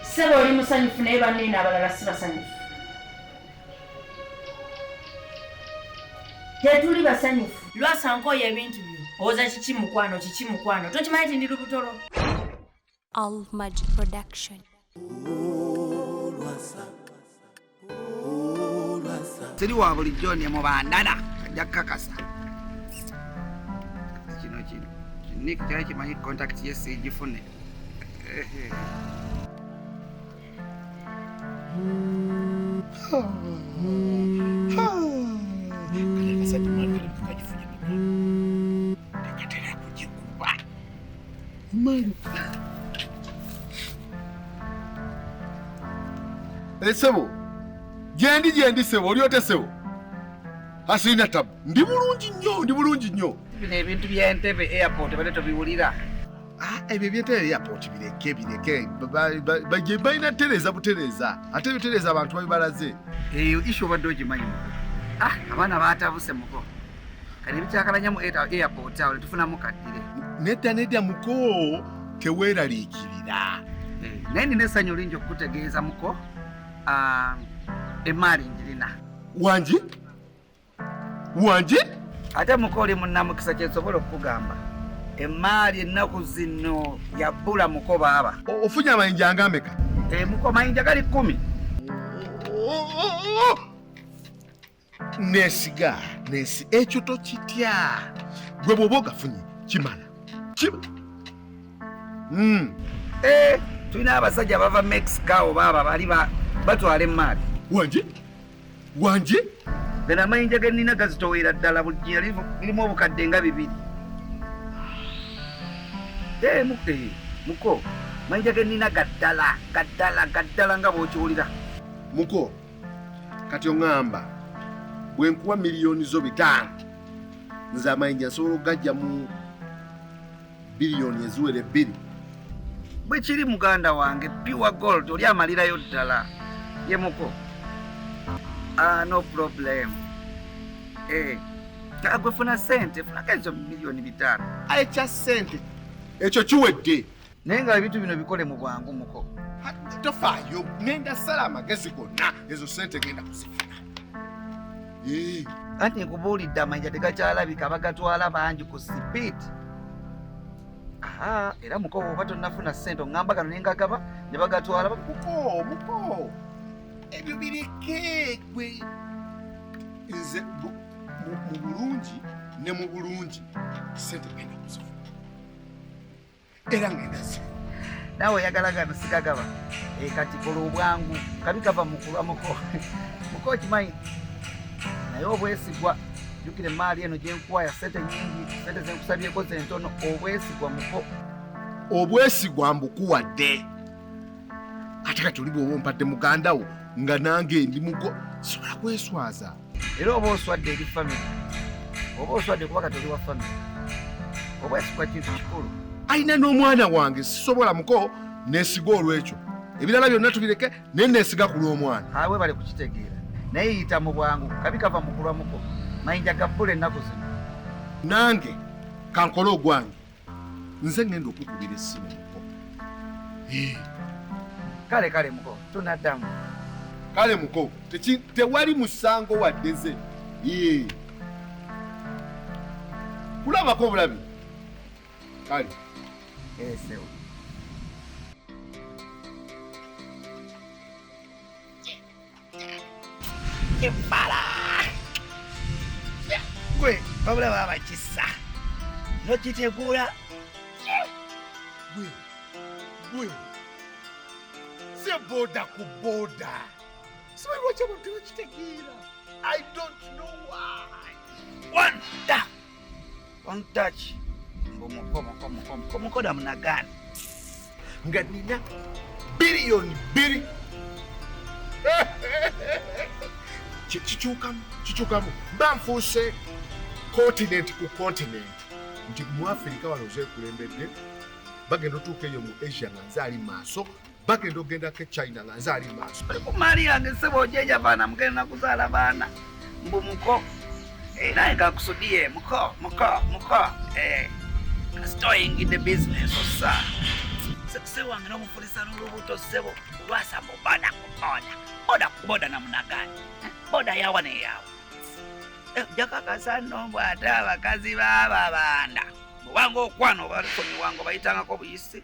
Sebo oli musanyufu naye banene abalala si basanyufu. Tetuli basanyufu. Lwasa nkooye ebintu byo. Owoza kiki mukwano kiki mukwano. Tokimanyi nti ndi lubutolo. Al Magic Production. siri wa bulijjo ne mubandana ajja kukakasa kino kino nik kyali kimanyi kontakiti ye siigifune Ehe. Esebo gyendi gyendi sebo oli otya sebo asirina tabu ndi bulungi nnyo ndi bulungi nnyo bino ebintu byentebe airport bade tobiwulira Ah, ebyo ebyetera airport bireke bireke baje balina tereza butereza ate bitereza abantu babibalaze eyo ishu obadde ogimanyi muko ah abaana batabuse muko kati ebikyakalanya mu airport awo netufunamu kaddire nedda nedda muko teweeraliikirira eh, naye nina essanyu lingi okukutegeeza muko ah, emaali njirina wangi wanje ate mukoli munamukisa kyensobola okukugamba emaali ennaku zino yabbula muko baaba ofunye amayinja angameka eh, muko mayinja gali kumi nesiga nesi ekyo tokitya gwe bwoba ogafunye kimala hmm. eh, tulina abasajja bava mexica obaaba bali batwala emaali wanje wangi gano amayinja ge nnina gazitowera ddala buli jjiya lirimu obukadde nga bibiri eh, eh, muko mayinja ge nnina gaddala gaddala gaddala nga bw'okiwulira muko kati oŋŋamba bwe nkuwa miliyoni zo bitaano nze amayinja nsobola okugajja mu biliyoni eziwera ebbiri bwe kiri muganda wange pure gold oli amalirayo ddala yemuko ah, no problem eh, agwe funa sente funako ezo miliyoni bitaano ekya sente ekyo kiwedde naye nga ebintu bino bikole mu bwangu muko tofaayo ngenda sala amagezi gonna ezo sente genda kuzifuna anti nkubuulidde amayinja tegakyalabika bagatwala bangi ku sipiidi aha era muko oba tonnafuna ssente oŋŋamba gano ne ngagaba ne bagatwala muko muko ebyo bireke gwe nze mu bulungi ne mu bulungi ssente genda kuzifuna era ngendazi nawe oyagala gano sigagaba eh, kati kola obwangu kabi kava mukulwa muko muko okimanyi naye obwesigwa jukira emaali eno gyenkuwaya sente nyingi sente zenkusabyeko zentono obwesigwa muko obwesigwa mbukuwadde ate kati oli bwoba ompadde mugandawo nga nange ndi mugo sobola kweswaza era oba oswadde eri famire oba oswadde kuba kati oli wa famire obwesigwa kintu kikulu alina n'omwana wange sisobola muko nesiga olwekyo ebirala byonna tubireke naye nesiga ku lw'omwana awe bali kukitegeera naye yita mu bwangu kabi kava mukulwa muko mayinja gabbula ennaku zino nange kankole ogwange nze ngenda okukubira essimu muko kale kale muko tunaddamu kale muko tewali musango waddeze kulabako obulabi kale esewo eh, ebbala gwe babula baba kisa nokitegula gwe gwe si boda ku boda sibalwaki abantu bakitegeera i don't know why wanda ontaki mbu mukomukomukomukomukoda munagana nga nina biliyoni biri kikyukamu kikyukamu banfuuse continent ku continent nti mu afirika wano zekulembedde bagenda otuuka eyo mu asia nga nze ali maaso bagenda okugenda ke china nga nze ali maaso maali yange sebo ojeja baana mugenda nakuzaala baana mbu muko eh, naye kakusudie muko muko muko eh, kasita oyingidde bizinesi osa sebo wange nomufulisa nolubuto sebo lwasa muboda kuboda boda kuboda namunagani eh, boda yawa neyawa jakakasanombw ate abakazi bababanda mubanga okwana obalusonyiwanga obayitangako buyisi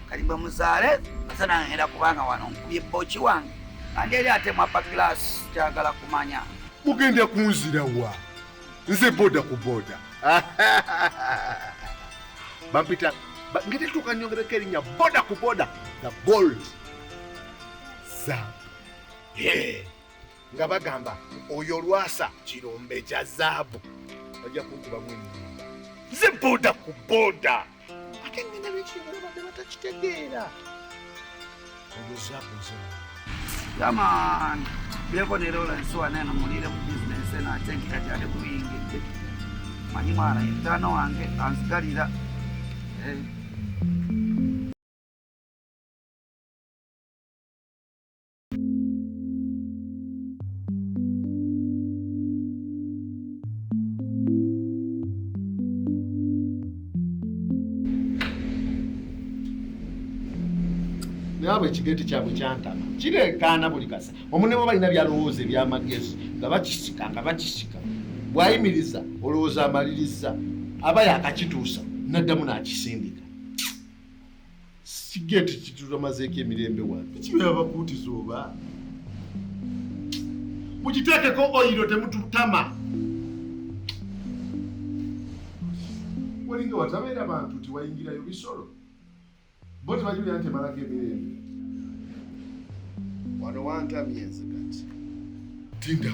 kati bwe muzaale nze nangenda kubanga wano nkubye bboki wange kandi eri ate mwappa giraasi kyagala kumanya mugenda kunzira wa nze boda ku boda bampita ngeri tuuka nyongereko erinnya boda ku boda the gold zaabu nga bagamba oyo lwasa kirombe kya zaabu bajja kunkubamu enyimba nze boda ku boda ate ngenda bekinyolo badde batakitegeera oyo zaabu zaabu yaman beko ne lola nsuwa neno mulire mu bizinesi eno ate nkikakyade kubiyingidde manyi mwana yetaano wange ansigalira eh. naabwe ekigeti kyabwe kyantama kireekaana buli kasa omune bwe balina byalowooza ebyamagezi nga bakisika nga bakisika bwayimiriza olowooza amaliriza aba yakakituusa naddamu n'akisindika sigeti kitutamazeeko emirembe wano kibeera bakuutiza oba mukiteekeko oyiro temututama walinga watabeera bantu tiwayingirayo bisolo bo tebajulia nti emalako emirembe wano wantamye nze kati tinda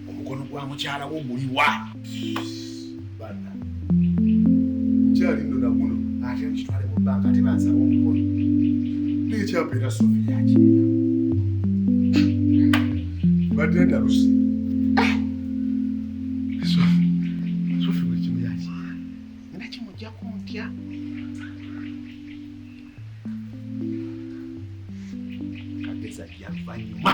omukono gwa mukyala wo guliwa bana kyali nno naguno ate mukitwale mu banka ate bansaba omukono nekyapa era sofi yakirina badde ndalusi sofi buli kimu yakirina nina kimujjaku ntya kageza yavanyuma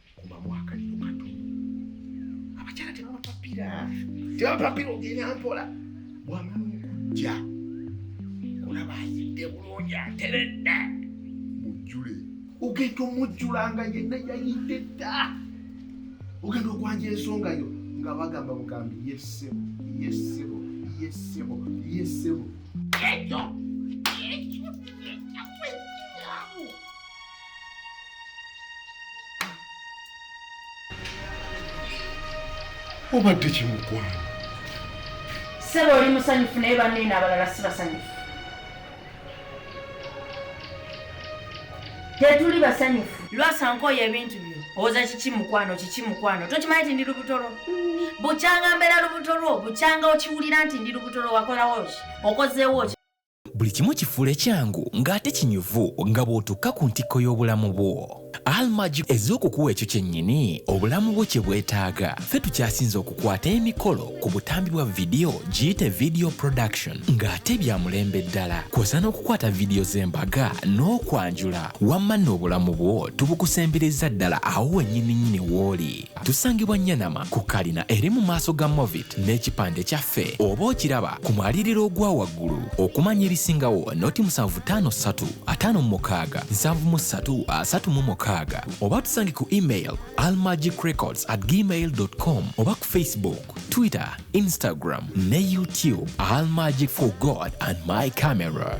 kubamu akaliro kato abakyala tebabapapira tebabapapira ogenda mpola bwamala okujja olaba ayidde bulungi ateredde mujjule ogenda omujjulanga yenna yayidde dda ogenda okwanja ensonga yo nga bagamba bugambi yesebo yesebo yesebo yesebo ekyo obadde kimukwano sebo oli musanyufu naye banene abalala si basanyufu tetuli basanyufu lwasanka oyo ebintu byo owoza kiki mukwano kiki mukwano tokimanyi nti ndi lubuto lwo bukyanga mbeera lubuto lwo bukyanga okiwulira nti ndi lubuto lwo wakolawo ki okozeewo ki buli kimu kifuula ekyangu ng'ate kinyuvu nga bw'otukka ku ntikko y'obulamu bwo almagi ez'okukuwa ekyo kyennyini obulamu bwo kye bwetaaga ffe tukyasinze okukwata emikolo ku butambi bwa vidiyo giyite vidiyo production ng'ate bya mulembe ddala kwosa n'okukwata vidiyo z'embaga n'okwanjula wamma n'obulamu bwo tubukusembereza ddala awo wennyini nnyini w'oli Tusangibwa Nyanama ku kalina eri mu maaso ga Movit n'ekipande kyaffe oba okiraba ku mwaliriro ogwa waggulu. Okumanya ebisingawo noti musanvu ttaano ssatu ataano mu mukaaga nsanvu mu ssatu asatu mu mukaaga oba tusange ku email almagicrecords at gmail com oba ku Facebook, Twitter, Instagram ne YouTube Almagic for God and my camera.